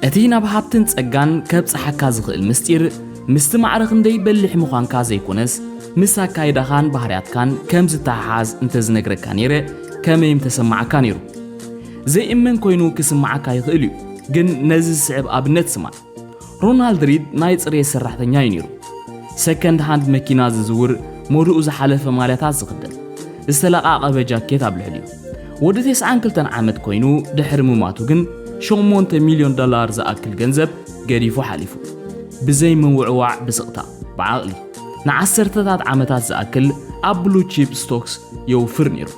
እቲ ናብ ሃብትን ጸጋን ከብጽሓካ ዝኽእል ምስጢር ምስቲ ማዕረ ክንደይ በሊሕ ምዃንካ ዘይኮነስ ምስ ኣካይዳኻን ባህርያትካን ከም ዝተሓሓዝ እንተዝነግረካ ነይረ ከመይ ምተሰማዓካ ነይሩ? ዘይእመን ኮይኑ ክስምዓካ ይኽእል እዩ፣ ግን ነዚ ዝስዕብ ኣብነት ስማዕ። ሮናልድ ሪድ ናይ ጽሬት ሰራሕተኛ እዩ ነይሩ። ሰከንድ ሃንድ መኪና ዝዝውር፣ መሉኡ ዝሓለፈ ማልያታት ዝኽደን፣ ዝተለቓቐበ ጃኬት ኣብ ልዕሊኡ። ወዲ ቴስዓን ክልተን ዓመት ኮይኑ ድሕሪ ምማቱ ግን ሸሞንተ ሚልዮን ዶላር ዝኣክል ገንዘብ ገዲፉ ሓሊፉ። ብዘይ ምውዕዋዕ ብስቕታ፣ ብዓቕሊ ንዓሰርተታት ዓመታት ዝኣክል ኣብ ብሉ ቺፕ ስቶክስ የውፍር ነይሩ።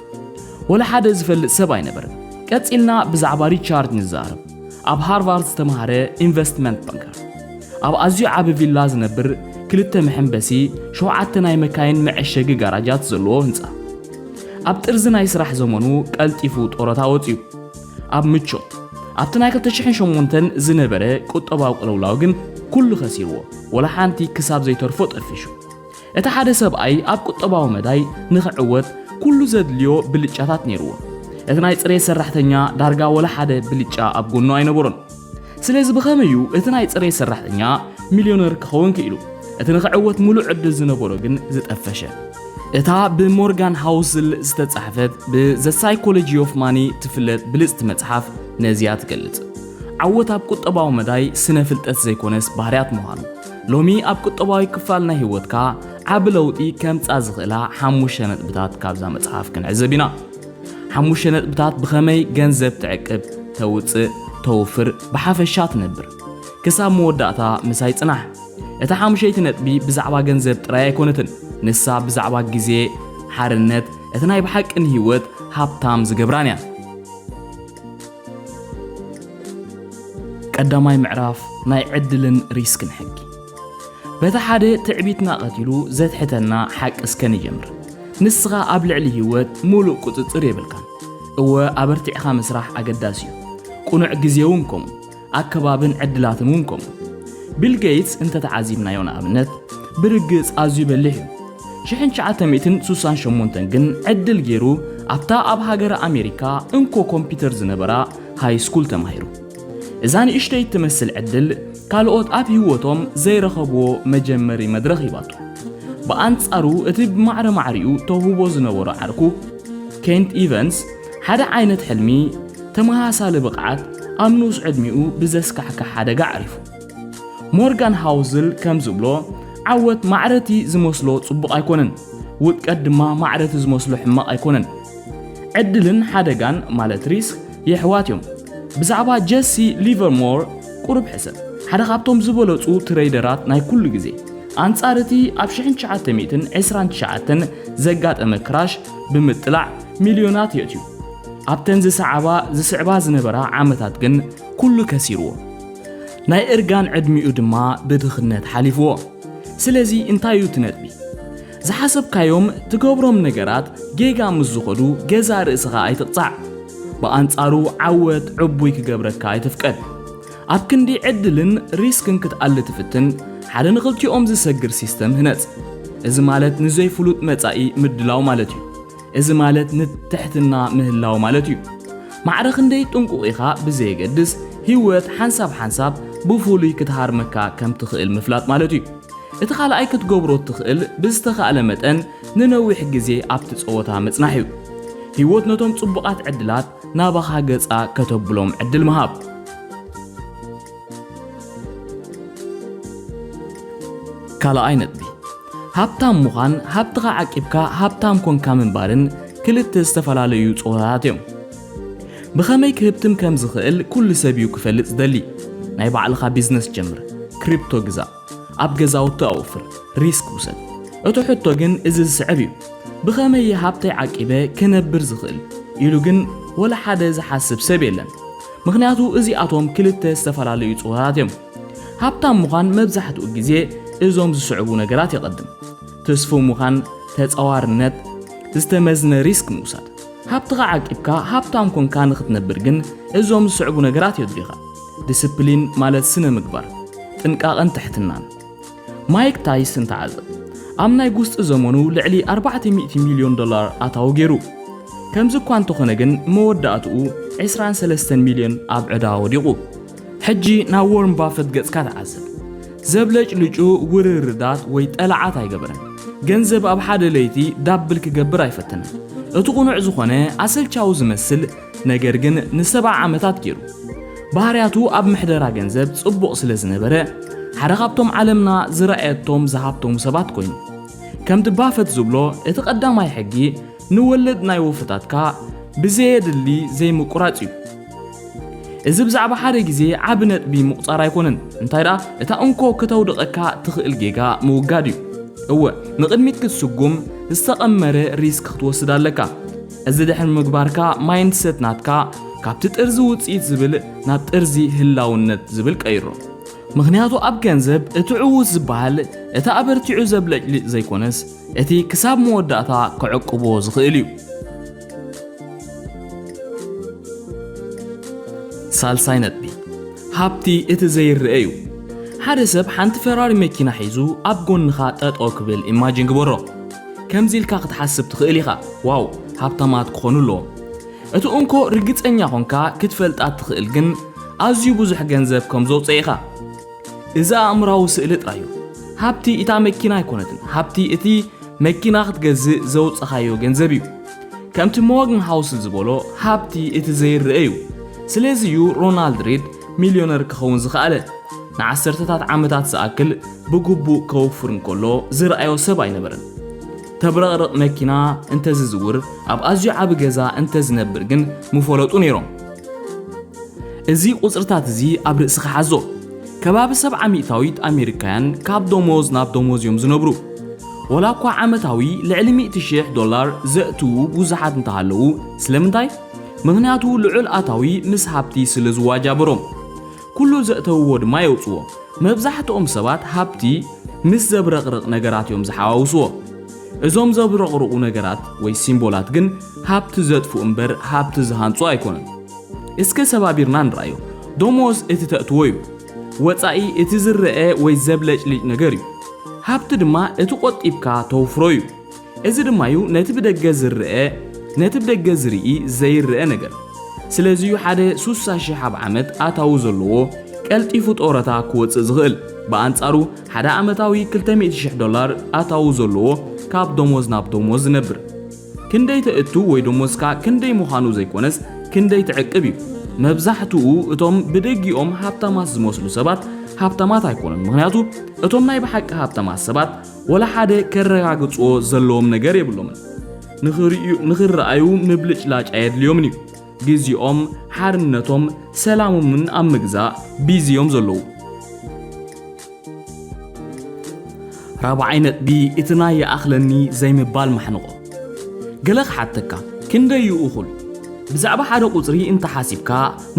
ወላ ሓደ ዝፈልጥ ሰብ ኣይነበረን። ቀጺልና ብዛዕባ ሪቻርድ ንዛረብ። ኣብ ሃርቫርድ ዝተምሃረ ኢንቨስትመንት ባንከር፣ ኣብ ኣዝዩ ዓቢ ቪላ ዝነብር፣ ክልተ መሐንበሲ፣ ሸውዓተ ናይ መካይን መዐሸጊ ጋራጃት ዘለዎ ህንጻ። ኣብ ጥርዚ ናይ ስራሕ ዘመኑ ቀልጢፉ ጡረታ ወጺኡ። ኣብ ምቾት ኣብቲ ናይ 2008 ዝነበረ ቁጠባዊ ቅልውላው ግን ኩሉ ከሲርዎ፣ ወላ ሓንቲ ክሳብ ዘይተርፎ ጠፊሹ። እቲ ሓደ ሰብኣይ ኣብ ቁጠባዊ መዳይ ንኽዕወት ኩሉ ዘድልዮ ብልጫታት ነይርዎ። እቲ ናይ ጽሬት ሰራሕተኛ ዳርጋ ወላ ሓደ ብልጫ ኣብ ጎኑ ኣይነበሮን። ስለዚ ብኸመይ እዩ እቲ ናይ ጽሬት ሰራሕተኛ ሚልዮነር ክኸውን ክኢሉ? እቲ ንኽዕወት ምሉእ ዕድል ዝነበሮ ግን ዝጠፈሸ። እታ ብሞርጋን ሃውስል ዝተጻሕፈት ብዘ ሳይኮሎጂ ኦፍ ማኒ ትፍለጥ ብልጽቲ መጽሓፍ ነዚኣ ትገልጽ። ዓወት ኣብ ቁጠባዊ መዳይ ስነ ፍልጠት ዘይኮነስ ባህርያት ምዃኑ፣ ሎሚ ኣብ ቁጠባዊ ክፋል ናይ ህይወትካ ዓቢ ለውጢ ከምጻ ዝኽእላ ሓሙሽተ ነጥብታት ካብዛ መጽሓፍ ክንዕዘብ ኢና። ሓሙሽተ ነጥብታት ብኸመይ ገንዘብ ትዕቅብ፣ ተውጽእ፣ ተውፍር፣ ብሓፈሻ ትነብር። ክሳብ መወዳእታ ምሳይ ጽናሕ። እታ ሓሙሸይቲ ነጥቢ ብዛዕባ ገንዘብ ጥራይ ኣይኮነትን፣ ንሳ ብዛዕባ ግዜ፣ ሓርነት፣ እቲ ናይ ብሓቂ ንህይወት ሃብታም ዝገብራን እያ። ቀዳማይ ምዕራፍ ናይ ዕድልን ሪስክን ሕጊ በቲ ሓደ ትዕቢትና ቀቲሉ ዘትሕተና ሓቂ እስከ ንጀምር ንስኻ ኣብ ልዕሊ ህይወት ሙሉእ ቁፅፅር የብልካን እወ ኣበርቲዕኻ ምስራሕ ኣገዳሲ እዩ ቁኑዕ ግዜ እውን ከምኡ ኣከባብን ዕድላትን እውን ከምኡ ቢል ጌትስ እንተተዓዚብናዮ ንኣብነት ብርግፅ ኣዝዩ በሊሕ እዩ ሽሕን ትሽዓተ ሚእትን ሱሳን ሸሞንተን ግን ዕድል ገይሩ ኣብታ ኣብ ሃገረ ኣሜሪካ እንኮ ኮምፒተር ዝነበራ ሃይስኩል ተማሂሩ። እዛ ንእሽተይ እትመስል ዕድል ካልኦት ኣብ ህይወቶም ዘይረኸብዎ መጀመሪ መድረኽ ሂባቶ። ብኣንጻሩ እቲ ብማዕረ ማዕሪኡ ተውህቦ ዝነበሮ ዓርኩ ኬንት ኢቨንስ ሓደ ዓይነት ሕልሚ፣ ተመሳሳሊ ብቕዓት፣ ኣብ ንኡስ ዕድሚኡ ብዘስካሕክሕ ሓደጋ ኣዕሪፉ። ሞርጋን ሃውዝል ከም ዝብሎ፣ ዓወት ማዕረ'ቲ ዝመስሎ ጽቡቕ ኣይኮነን፣ ውድቀት ድማ ማዕረ'ቲ ዝመስሎ ሕማቕ ኣይኮነን። ዕድልን ሓደጋን፣ ማለት ሪስክ፣ የሕዋት እዮም። ብዛዕባ ጀሲ ሊቨርሞር ቁሩብ ሕሰብ። ሓደ ካብቶም ዝበለጹ ትረይደራት ናይ ኩሉ ግዜ። ኣንጻር እቲ ኣብ ሽሕን ትሽዓተ ሚእትን ዕስራን ትሽዓተን ዘጋጠመ ክራሽ ብምጥላዕ ሚልዮናት የእትዩ። ኣብተን ዝሰዓባ ዝስዕባ ዝነበራ ዓመታት ግን ኩሉ ከሲርዎ። ናይ እርጋን ዕድሚኡ ድማ ብድኽነት ሓሊፍዎ። ስለዚ እንታይ እዩ እቲ ነጥቢ? ዝሓሰብካዮም ትገብሮም ነገራት ጌጋ ምስ ዝኾዱ ገዛእ ርእስኻ ኣይትቕጻዕ። ብኣንጻሩ ዓወት ዕቡይ ክገብረካ ኣይትፍቀድ። ኣብ ክንዲ ዕድልን ሪስክን ክትኣሊ ትፍትን ሓደ ንኽልቲኦም ዝሰግር ሲስተም ህነጽ። እዚ ማለት ንዘይፍሉጥ መጻኢ ምድላው ማለት እዩ። እዚ ማለት ንትሕትና ምህላው ማለት እዩ። ማዕረ ክንደይ ጥንቁቕ ኢኻ ብዘየገድስ፣ ህይወት ሓንሳብ ሓንሳብ ብፍሉይ ክትሃርመካ ከም ትኽእል ምፍላጥ ማለት እዩ። እቲ ካልኣይ ክትገብሮ እትኽእል ብዝተኻእለ መጠን ንነዊሕ ግዜ ኣብቲ ጸወታ ምጽናሕ እዩ። ህይወት ነቶም ጽቡቓት ዕድላት ናባኻ ገጻ ከተብሎም ዕድል ምሃብ። ካልኣይ ነጥቢ፣ ሃብታም ምዃን ሃብትኻ ዓቂብካ ሃብታም ኮንካ ምንባርን ክልተ ዝተፈላለዩ ጾታታት እዮም። ብኸመይ ክህብትም ከም ዝኽእል ኩሉ ሰብ እዩ ክፈልጥ ዝደሊ። ናይ ባዕልኻ ቢዝነስ ጀምር፣ ክሪፕቶ ግዛእ፣ ኣብ ገዛውቲ ኣውፍር፣ ሪስክ ውሰድ። እቲ ሕቶ ግን እዚ ዝስዕብ እዩ፣ ብኸመይ እየ ሃብተይ ዓቂበ ክነብር ዝኽእል? ኢሉ ግን ወላ ሓደ ዝሓስብ ሰብ የለን። ምኽንያቱ እዚኣቶም ክልተ ዝተፈላለዩ ጾታታት እዮም። ሃብታም ምዃን መብዛሕትኡ ግዜ እዞም ዝስዕቡ ነገራት የቐድም፣ ትስፉው ምዃን፣ ተጻዋርነት፣ ዝተመዝነ ሪስክ ምውሳድ። ሃብትኻ ዓቂብካ ሃብታም ኰንካ ንኽትነብር ግን እዞም ዝስዕቡ ነገራት የድልዩኻ። ዲስፕሊን ማለት ስነ ምግባር፣ ጥንቃቐን ትሕትናን። ማይክ ታይስን ተዓዘብ ኣብ ናይ ጉስጢ ዘመኑ ልዕሊ ኣርባዕተ ሚእቲ ሚልዮን ዶላር ኣታዊ ገይሩ። ከምዚ እኳ እንተኾነ ግን መወዳእትኡ ዕስራን ሰለስተን ሚልዮን ኣብ ዕዳ ወዲቑ። ሕጂ ናብ ዎርን ባፈት ገጽካ ተዓዘብ። ዘብለጭልጩ ውርርዳት ወይ ጠላዓት ኣይገበረን። ገንዘብ ኣብ ሓደ ለይቲ ዳብል ክገብር ኣይፈተነን። እቲ ቁኑዕ ዝኾነ ኣሰልቻዊ ዝመስል ነገር ግን ንሰብዓ ዓመታት ገይሩ። ባህርያቱ ኣብ ምሕደራ ገንዘብ ጽቡቕ ስለ ዝነበረ፣ ሓደ ካብቶም ዓለምና ዝረኣየቶም ዝሃብተሙ ሰባት ኮይኑ። ከምቲ ባፈት ዝብሎ እቲ ቀዳማይ ሕጊ ንወለድ ናይ ወፈታትካ ብዘየድሊ ዘይምቁራጽ እዩ። እዚ ብዛዕባ ሓደ ግዜ ዓቢ ነጥቢ ምቑጻር ኣይኮነን፣ እንታይ ደኣ እታ እንኮ ከተውድቐካ ትኽእል ጌጋ ምውጋድ እዩ። እወ ንቕድሚት ክትስጉም ዝተቐመረ ሪስክ ክትወስድ ኣለካ። እዚ ድሕሪ ምግባርካ ማይንድ ሰት ናትካ ካብቲ ጥርዚ ውፅኢት ዝብል ናብ ጥርዚ ህላውነት ዝብል ቀይሮ። ምክንያቱ ኣብ ገንዘብ እቲ ዕዉት ዝበሃል እቲ ኣበርቲዑ ዘብለጭልጭ ዘይኮነስ እቲ ክሳብ መወዳእታ ከዕቅቦ ዝኽእል እዩ። ሳልሳይ ነጥቢ ሃብቲ እቲ ዘይረአ እዩ። ሓደ ሰብ ሓንቲ ፈራሪ መኪና ሒዙ ኣብ ጎንኻ ጠጠው ክብል ኢማጂን ግበሮ። ከምዚ ኢልካ ክትሓስብ ትኽእል ኢኻ፣ ዋው፣ ሃብታማት ክዀኑ ኣለዎም። እቲ እንኮ ርግጸኛ ዀንካ ክትፈልጣ እትኽእል ግን ኣዝዩ ብዙሕ ገንዘብ ከም ዘውጽኤ ኢኻ። እዚ ኣእምሮኣዊ ስእሊ ጥራይ እዩ። ሃብቲ እታ መኪና ኣይኰነትን፣ ሃብቲ እቲ መኪና ክትገዝእ ዘውጸኻዮ ገንዘብ እዩ። ከምቲ ሞርግንሃውስ ዝበሎ፣ ሃብቲ እቲ ዘይርኣ እዩ። ስለዚ እዩ ሮናልድ ሪድ ሚልዮነር ክኸውን ዝኸኣለ፣ ንዓሰርተታት ዓመታት ዝኣክል ብግቡእ ከውፍር እንከሎ ዝርኣዮ ሰብ ኣይነበረን። ተብረቕርቕ መኪና እንተ ዝዝውር፣ ኣብ ኣዝዩ ዓቢ ገዛ እንተ ዝነብር ግን ምፈለጡ ነይሮም። እዚ ቁጽርታት እዚ ኣብ ርእስኻ ሓዞ። ከባቢ ሰብዓ ሚእታዊት ኣሜሪካያን ካብ ደሞዝ ናብ ደሞዝ እዮም ዝነብሩ። ወላ እኳ ዓመታዊ ልዕሊ ሚእቲ ሽሕ ዶላር ዘእትዉ ብዙሓት እንተሃለዉ፣ ስለምንታይ? ምኽንያቱ ልዑል ኣታዊ ምስ ሃብቲ ስለ ዝዋጃብሮም። ኩሉ ዘእተውዎ ድማ የውጽዎ። መብዛሕትኦም ሰባት ሃብቲ ምስ ዘብረቕርቕ ነገራት እዮም ዝሓዋውስዎ። እዞም ዘብረቕርቑ ነገራት ወይ ሲምቦላት ግን ሃብቲ ዘጥፍኡ እምበር ሃብቲ ዝሃንጹ ኣይኮኑን። እስከ ሰባቢርና ንርኣዮ። ደሞዝ እቲ ተእትዎ እዩ። ወጻኢ እቲ ዝረኣ ወይ ዘብለጭልጭ ነገር እዩ። ሃብቲ ድማ እቲ ቆጢብካ ተውፍሮ እዩ። እዚ ድማ እዩ ነቲ ብደገ ዝረኣ ነቲ ብደገ ዝርኢ ዘይረኣ ነገር ስለዚ እዩ ሓደ ሱሳ ሽሕ ኣብ ዓመት ኣታዊ ዘለዎ ቀልጢፉ ጦረታ ክወፅእ ዝኽእል ብኣንጻሩ ሓደ ዓመታዊ 200 ሽሕ ዶላር ኣታዊ ዘለዎ ካብ ደሞዝ ናብ ደሞዝ ዝነብር ክንደይ ተእቱ ወይ ደሞዝካ ክንደይ ምዃኑ ዘይኮነስ ክንደይ ትዕቅብ እዩ መብዛሕትኡ እቶም ብደጊኦም ሃብታማት ዝመስሉ ሰባት ሃብታማት ኣይኮኑን ምክንያቱ እቶም ናይ ብሓቂ ሃብታማት ሰባት ወላ ሓደ ከረጋግጽዎ ዘለዎም ነገር የብሎምን። ንኽርእዩ ንኽረኣዩ ምብልጭላጭ ኣየድልዮምን እዩ። ግዜኦም፣ ሓርነቶም፣ ሰላሞምን ኣብ ምግዛእ ቢዚ እዮም ዘለዉ። ራብዓይ ነጥቢ እቲ ናይ ይኣኽለኒ ዘይምባል ማሕንቖ። ገለ ክሓተካ፣ ክንደይ እዩ እኹል? ብዛዕባ ሓደ ቁጽሪ እንተ ሓሲብካ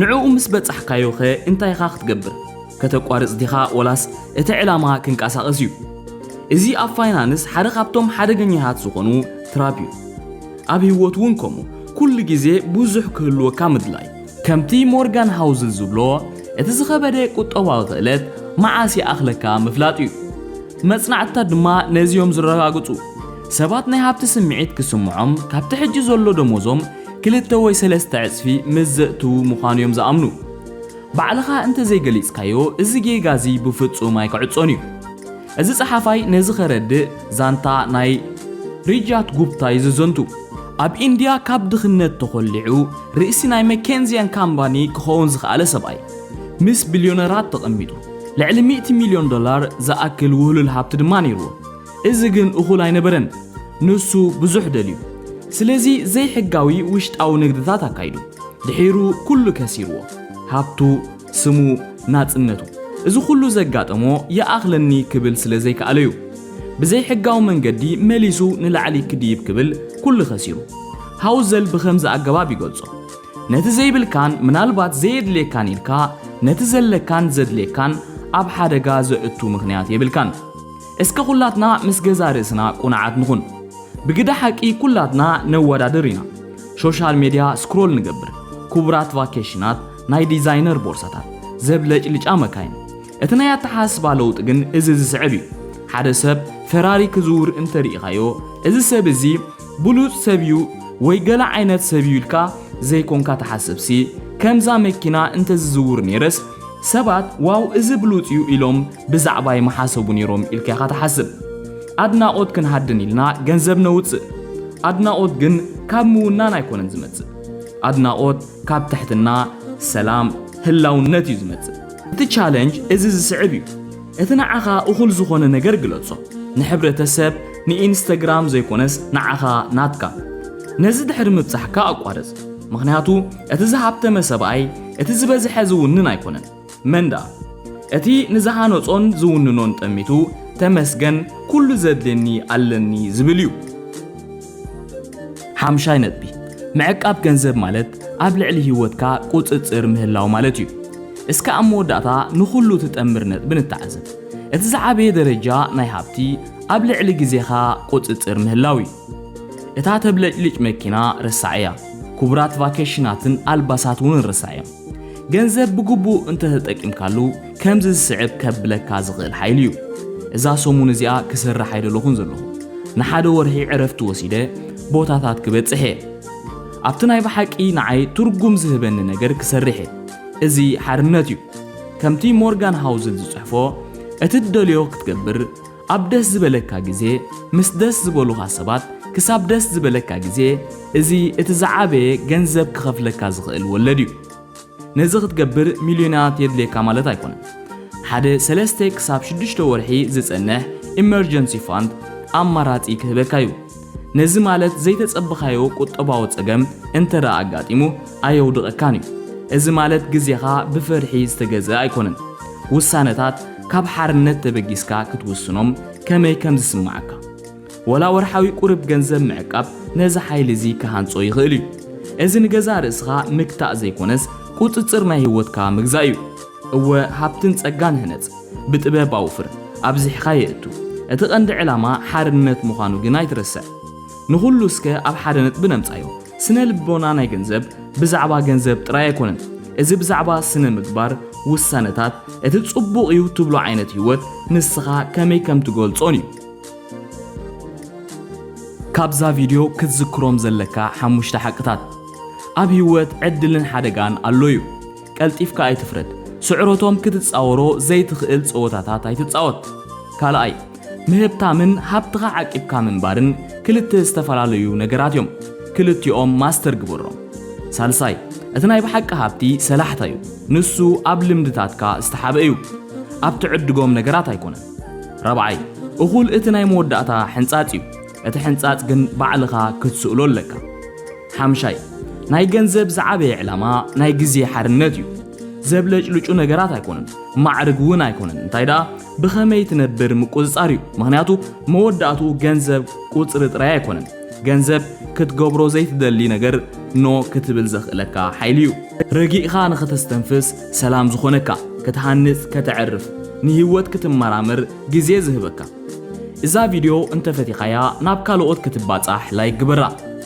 ንዕኡ ምስ በጻሕካዮኸ እንታይ ኢኻ ክትገብር? ከተቋርጽ ዲኻ ወላስ እቲ ዕላማ ክንቀሳቐስ እዩ? እዚ ኣብ ፋይናንስ ሓደ ካብቶም ሓደገኛታት ዝኾኑ ትራፕ እዩ። ኣብ ህይወት እውን ከምኡ፣ ኩሉ ግዜ ብዙሕ ክህልወካ ምድላይ። ከምቲ ሞርጋን ሃውዝል ዝብሎ፣ እቲ ዝኸበደ ቁጠባዊ ክእለት መዓስ ይኣኽለካ ምፍላጥ እዩ። መጽናዕትታት ድማ ነዚ እዮም ዝረጋግጹ። ሰባት ናይ ሃብቲ ስምዒት ክስምዖም ካብቲ ሕጂ ዘሎ ደሞዞም ክልተ ወይ ሰለስተ ዕጽፊ ምስ ዘእትዉ ምዃኑ እዮም ዝኣምኑ። ባዕልኻ እንተ ዘይገሊጽካዮ እዚ ጌጋ እዚ ብፍጹም ኣይክዕጾን እዩ። እዚ ጸሓፋይ ነዚ ከረድእ ዛንታ ናይ ሪጃት ጉፕታ እዩ ዘዘንቱ። ኣብ ኢንድያ ካብ ድኽነት ተኾሊዑ ርእሲ ናይ መኬንዝያን ካምባኒ ክኸውን ዝኸኣለ ሰብኣይ። ምስ ቢልዮነራት ተቐሚጡ። ልዕሊ ሚእቲ ሚልዮን ዶላር ዝኣክል ውህሉል ሃብቲ ድማ ነይርዎ። እዚ ግን እኹል ኣይነበረን፣ ንሱ ብዙሕ ደልዩ። ስለዚ ዘይሕጋዊ ውሽጣዊ ንግድታት ኣካይዱ። ድሒሩ ኩሉ ከሲርዎ፣ ሃብቱ፣ ስሙ፣ ናጽነቱ። እዚ ኩሉ ዘጋጠሞ ይኣኽለኒ ክብል ስለ ዘይከኣለ'ዩ። ብዘይሕጋዊ መንገዲ መሊሱ ንላዕሊ ክድይብ ክብል ኩሉ ከሲሩ። ሃውዘል ብኸምዚ ኣገባብ ይገልጾ፣ ነቲ ዘይብልካን ምናልባት ዘየድልየካን ኢልካ ነቲ ዘለካን ዘድልየካን ኣብ ሓደጋ ዘእቱ ምኽንያት የብልካን። እስከ ኩላትና ምስ ገዛ ርእስና ቁንዓት ንኹን። ብግደ ሓቂ ኩላትና ነወዳድር ኢና። ሾሻል ሜድያ ስክሮል ንገብር። ኩቡራት ቫኬሽናት፣ ናይ ዲዛይነር ቦርሳታት፣ ዘብለጭልጫ መካይን። እቲ ናይ ኣተሓሳስባ ለውጢ ግን እዚ ዝስዕብ እዩ። ሓደ ሰብ ፈራሪ ክዝውር እንተ ርኢኻዮ፣ እዚ ሰብ እዚ ብሉጽ ሰብ እዩ ወይ ገለ ዓይነት ሰብ እዩ ኢልካ ዘይኮንካ ትሓስብሲ፣ ከምዛ መኪና እንተ ዝዝውር ነይረስ፣ ሰባት ዋው እዚ ብሉጽ እዩ ኢሎም ብዛዕባይ ምሓሰቡ ነይሮም ኢልካ ኢኻ ትሓስብ። ኣድናቖት ክንሃድን ኢልና ገንዘብ ነውጽእ። ኣድናቖት ግን ካብ ምውናን ኣይኮነን ዝመጽእ። ኣድናቖት ካብ ትሕትና፣ ሰላም፣ ህላውነት እዩ ዝመጽእ። እቲ ቻለንጅ እዚ ዝስዕብ እዩ፣ እቲ ንዓኻ እኹል ዝኾነ ነገር ግለጾ። ንሕብረተሰብ፣ ንኢንስተግራም ዘይኮነስ ንዓኻ ናትካ። ነዚ ድሕሪ ምብጻሕካ ኣቋርጽ። ምኽንያቱ እቲ ዝሃብተመ ሰብኣይ እቲ ዝበዝሐ ዝውንን ኣይኮነን። መን ደኣ እቲ ንዝሃነጾን ዝውንኖን ጠሚቱ ተመስገን ኩሉ ዘድልየኒ ኣለኒ ዝብል እዩ። ሓምሻይ ነጥቢ፣ ምዕቃብ ገንዘብ ማለት ኣብ ልዕሊ ህይወትካ ቁጽጽር ምህላው ማለት እዩ። እስከ ኣብ መወዳእታ ንኹሉ እትጠምር ነጥቢ ንተዓዘብ። እቲ ዝዓበየ ደረጃ ናይ ሃብቲ ኣብ ልዕሊ ግዜኻ ቁጽጽር ምህላው እዩ። እታ ተብለጭልጭ መኪና ርሳዕ እያ፣ ክቡራት ቫኬሽናትን ኣልባሳት እውን ርሳዕ እዮም። ገንዘብ ብግቡእ እንተተጠቂምካሉ ከምዚ ዝስዕብ ከብለካ ዝኽእል ሓይሊ እዩ። እዛ ሰሙን እዚኣ ክሰርሕ ኣይደለኹን ዘለኹ። ንሓደ ወርሒ ዕረፍቲ ወሲደ ቦታታት ክበጽሕ እየ። ኣብቲ ናይ ብሓቂ ንዓይ ትርጉም ዝህበኒ ነገር ክሰርሕ እየ። እዚ ሓርነት እዩ። ከምቲ ሞርጋን ሃውዝል ዝጽሕፎ እቲ ትደልዮ ክትገብር ኣብ ደስ ዝበለካ ግዜ ምስ ደስ ዝበሉኻ ሰባት ክሳብ ደስ ዝበለካ ግዜ እዚ እቲ ዝዓበየ ገንዘብ ክኸፍለካ ዝኽእል ወለድ እዩ። ነዚ ክትገብር ሚልዮናት የድልየካ ማለት ኣይኮነን። ሓደ ሰለስተ ክሳብ ሽዱሽተ ወርሒ ዝጸንሕ ኢመርጀንሲ ፋንድ ኣማራጺ ክህበካ እዩ። ነዚ ማለት ዘይተጸበኻዮ ቁጠባዊ ጸገም እንተደኣ ኣጋጢሙ ኣየውድቐካን እዩ። እዚ ማለት ግዜኻ ብፍርሒ ዝተገዝእ ኣይኮነን። ውሳነታት ካብ ሓርነት ተበጊስካ ክትውስኖም ከመይ ከም ዝስምዓካ። ወላ ወርሓዊ ቁርብ ገንዘብ ምዕቃብ ነዚ ሓይሊ እዚ ክሃንጾ ይኽእል እዩ። እዚ ንገዛእ ርእስኻ ምግታእ ዘይኮነስ ቁጽጽር ናይ ህይወትካ ምግዛእ እዩ። እወ ሃብትን ጸጋን ህነጽ። ብጥበብ ኣውፍር፣ ኣብዚሕካ የእቱ። እቲ ቀንዲ ዕላማ ሓርነት ምዃኑ ግን ኣይትረስዕ። ንኹሉ እስከ ኣብ ሓደ ነጥቢ ነምጻዮ። ስነ ልቦና ናይ ገንዘብ ብዛዕባ ገንዘብ ጥራይ ኣይኮነን። እዚ ብዛዕባ ስነ ምግባር፣ ውሳነታት፣ እቲ ጽቡቕ እዩ ትብሎ ዓይነት ህይወት ንስኻ ከመይ ከም ትገልጾን እዩ። ካብዛ ቪድዮ ክትዝክሮም ዘለካ ሓሙሽተ ሓቅታት፣ ኣብ ህይወት ዕድልን ሓደጋን ኣሎ እዩ። ቀልጢፍካ ኣይትፍረድ። ስዕረቶም ክትጻወሮ ዘይትኽእል ጸወታታት ኣይትጻወት። ካልኣይ፣ ምህብታምን ሃብትኻ ዓቂብካ ምንባርን ክልተ ዝተፈላለዩ ነገራት እዮም። ክልቲኦም ማስተር ግበሮም። ሳልሳይ፣ እቲ ናይ ብሓቂ ሃብቲ ሰላሕታ እዩ። ንሱ ኣብ ልምድታትካ ዝተሓብአ እዩ። ኣብ ትዕድጎም ነገራት ኣይኮነን። ራብዓይ፣ እኹል እቲ ናይ መወዳእታ ሕንጻጽ እዩ። እቲ ሕንጻጽ ግን ባዕልኻ ክትስእሎ ኣለካ። ሓምሻይ፣ ናይ ገንዘብ ዝዓበየ ዕላማ ናይ ግዜ ሓርነት እዩ። ዘብለጭልጩ ነገራት ኣይኮኑን፣ ማዕርግ እውን ኣይኮነን፣ እንታይ ደኣ ብኸመይ ትነብር ምቁጽጻር እዩ። ምኽንያቱ መወዳእትኡ ገንዘብ ቁጽሪ ጥራይ ኣይኮነን። ገንዘብ ክትገብሮ ዘይትደሊ ነገር ኖ ክትብል ዘኽእለካ ሓይሊ እዩ። ረጊእኻ ንኸተስተንፍስ፣ ሰላም ዝኾነካ፣ ክትሃንጽ፣ ከተዕርፍ፣ ንህይወት ክትመራመር ግዜ ዝህበካ። እዛ ቪድዮ እንተፈቲኻያ ናብ ካልኦት ክትባጻሕ ላይክ ግበራ።